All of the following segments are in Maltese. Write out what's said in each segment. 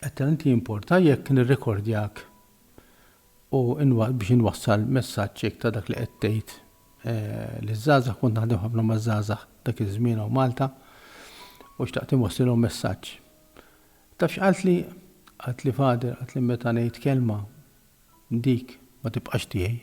Qed tant jimporta jekk nirrekordjak u biex inwassal messaġġ hekk ta' dak li qed tgħid liż-żgħażagħ, kont naħdem ħafna maż-żgħażagħ dak iż-żmien hawn Malta u xtaqt inwassilhom messaġġ. Taf x'qaltli? Qaltli Father, qaltli meta ngħid kelma, dik ma tibqax tiegħi.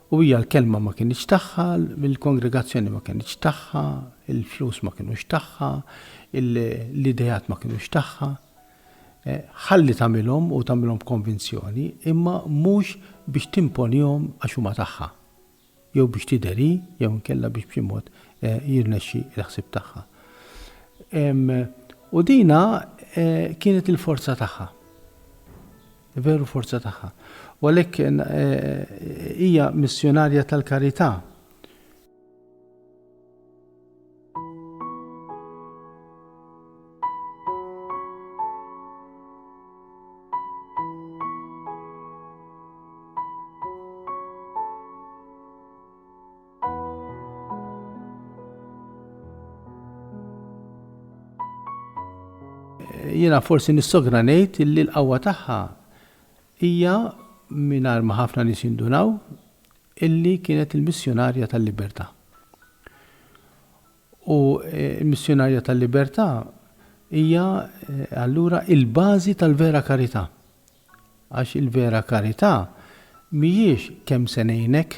U hija l-kelma ma kinitx tagħha, il-kongregazzjoni ma kinitx tagħha, il-flus ma kinux tagħha, l-ideat ma kinux tagħha. Eh, ħalli tagħmilhom u tagħmilhom b'konvinzjoni, imma mhux biex timponihom għax huma tagħha. Jew biex tideri, jew nkella biex b'xi mod eh, jirnexxi l-ħsib tagħha. U dina eh, kienet il-forza tagħha. veru forza tagħha, u għalhekk hija missjunarja tal-karità. Jiena forsi nissogra ngħid li l-qawwa tagħha hija mingħajr ma ħafna nies jindunaw illi kienet il-missjonarja tal-libertà. U eh, il-missjonarja tal-libertà hija eh, allura il-bażi tal-vera karità. Għax il-vera karità mhijiex kemm se ngħinek,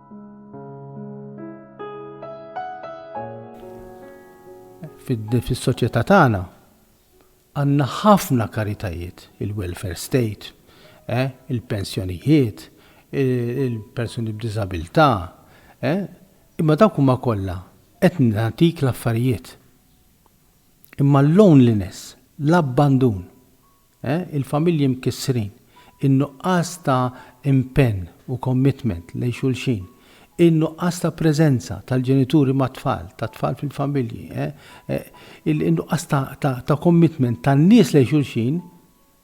Fis-soċjetà tagħna għandna ħafna karitajiet, il-welfare state, eh, il-pensjonijiet, il-persuni b'diżabilità, eh, imma dawk huma kollha qed nagħtik l-affarijiet. Imma l-loneliness, l-abbandun, il-familji mkissrin, in-nuqqas ta' impenn u commitment lejn xulxin, in-nuqqas ta' preżenza tal-ġenituri mat-tfal, tat-tfal fil-familji, in-nuqqas ta' commitment tan-nies lejn xulxin,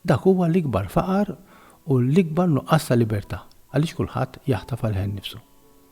dak huwa l-ikbar faqar u l-ikbar nuqqas ta' libertà, għaliex kulħadd jaħtaf għal ħnifsu.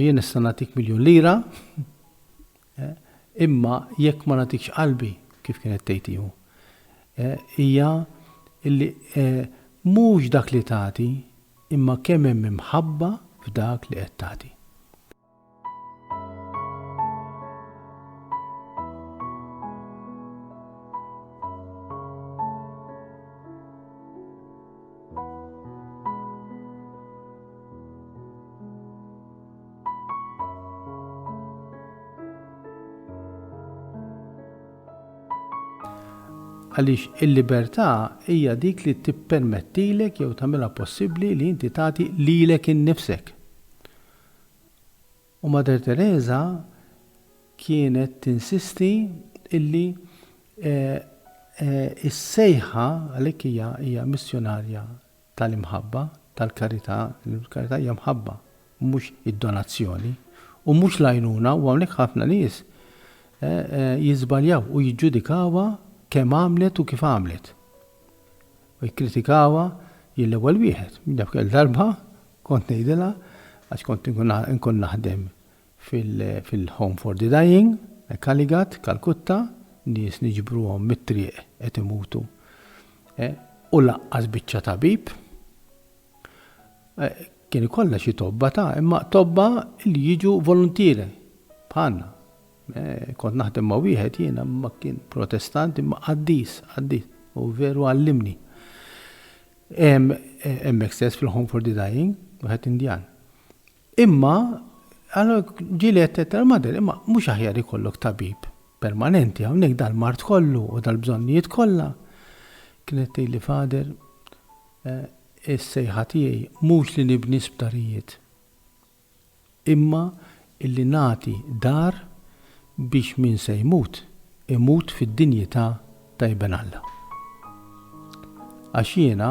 Jien nista' nagħtik miljun lira, eh, imma jekk ma nagħtikx qalbi kif kienet tgħid hu. Eh, hija illi eh, mhux dak li tagħti imma kemm hemm imħabba f'dak li qed tagħti. għaliex il-libertà hija dik li tippermettilek jew tagħmilha possibbli li inti tagħti lilek innifsek. U Mater Teresa kienet tinsisti illi s-sejħa, għalhekk hija hija missjunarja tal-imħabba, tal-karità, il-karità hija mħabba, mhux id-donazzjoni, u mhux l-għajnuna, u hawnhekk ħafna nies jiżbaljaw u jiġġudikawha kemm għamlet u kif għamlet. U jikkritikawha jien l-ewwel wieħed, minn dak il-darba kont ngħidilha għax kont inkun naħdem fil-Home for the Dying, Kalighat, Kalkutta, nies niġbruhom mit-triq qed imutu u lanqas biċċa tabib. Kien ikollha xi tobba ta' imma tobba li jiġu voluntieri bħalna. Kont naħdem ma' wieħed jiena ma kien protestant imma qaddis, qaddis, u veru għallimni. Hemmhekk stess fil-Home for the Dying, wieħed Indjan. Imma, allura ġieli għedtilha l-mother, imma mhux aħjar ikollok tabib permanenti hawnhekk dal-mard kollu u dal-bżonnijiet kollha? Kienet tgħidli, Father, is-sejħa tiegħi mhux li nibni sptarijiet, imma illi nagħti dar biex min se jmut, imut fid-dinjità ta' Iben Alla. Għax jiena,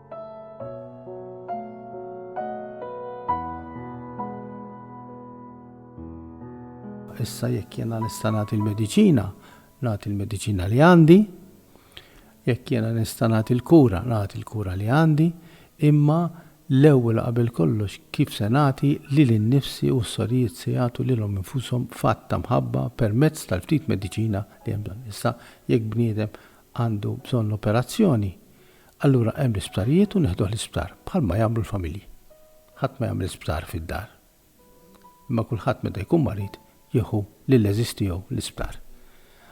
issa jekk jiena nista' nagħti l-mediċina, nagħti l-mediċina li għandi, jekk jiena nista' nagħti l-kura, nagħti l-kura li għandi, imma l-ewwel qabel kollox kif se nagħti lil innifsi u s-sorijiet se jagħtu lilhom infushom f'att ta' mħabba permezz tal-ftit mediċina li hemm bżonn. Issa jekk bniedem għandu bżonn operazzjoni, Allura hemm l-isptarijiet u neħduh l-isptar, bħalma jagħmlu l-familji. Ħadd ma jagħmel sptar fid-dar. Imma kulħadd meta jkun marid jieħu lill-għeżież tiegħu l-isptar.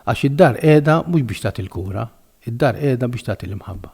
Għax id-dar qiegħda mhux biex tagħti l-kura, id-dar qiegħda biex tagħti l-imħabba.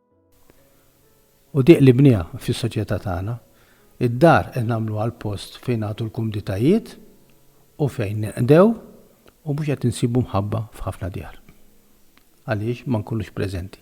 U diq li bniha fis-soċjetà tagħna. Id-dar qed nagħmluha l-post fejn nagħtu l-kumditajiet u fejn ninqdew u mhux qed insibu mħabba f'ħafna djar. Għaliex ma nkunux preżenti.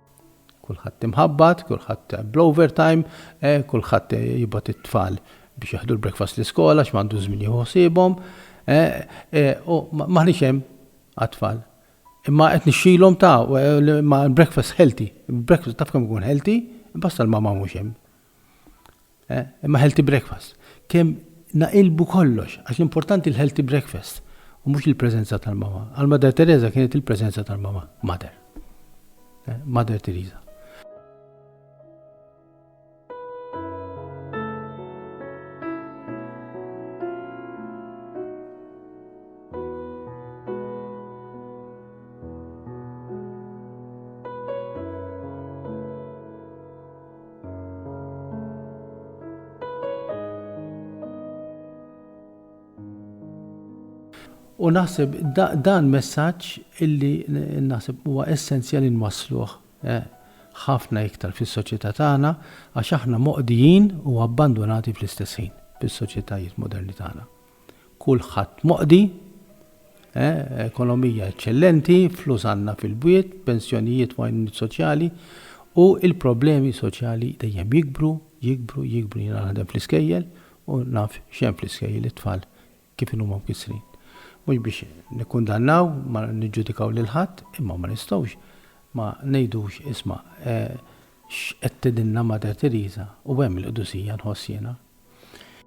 Kulħadd imħabbat, kulħadd bl-overtime, eh, kulħadd jibgħat it-tfal biex jaħdu l-breakfast l-iskola għax m'għandu żmien jieħu ħsiebhom, eh, eh, u m'aħniex hemm għat-tfal. Imma qed nixxilhom ta' ma' breakfast healthy, breakfast taf kemm ikun healthy, basta l-mama mhux hemm. Imma healthy breakfast. Kemm naqilbu kollox, għax l-importanti l-healthy breakfast u mhux il-preżenza tal-Mama. Għal Mother Teresa kienet il-preżenza tal-Mama, Mother. Mother Teresa. U naħseb dan messaġġ illi naħseb huwa essenzjali nwassluh eh, ħafna iktar fis-soċjetà tagħna għax aħna moqdijin u abbandunati fl-istess ħin bis-soċjetajiet moderni tagħna. kulħadd moqdi, eh, ekonomija eċċellenti, flus għandna fil-bwiet, pensjonijiet u għajnuniet soċjali, u l-problemi soċjali dejjem jikbru, jikbru, jikbru, jiena naħdem fl-iskejjel u naf x'hemm fl-iskejjel it-tfal kif inhuma mkissrin. Mhux biex nikkundannaw, ma niġġudikaw lil ħadd, imma ma nistgħux ma ngħidux isma' eh, x'qed tgħidilna Mater Teresa u hemm il-qdusija nħoss jiena.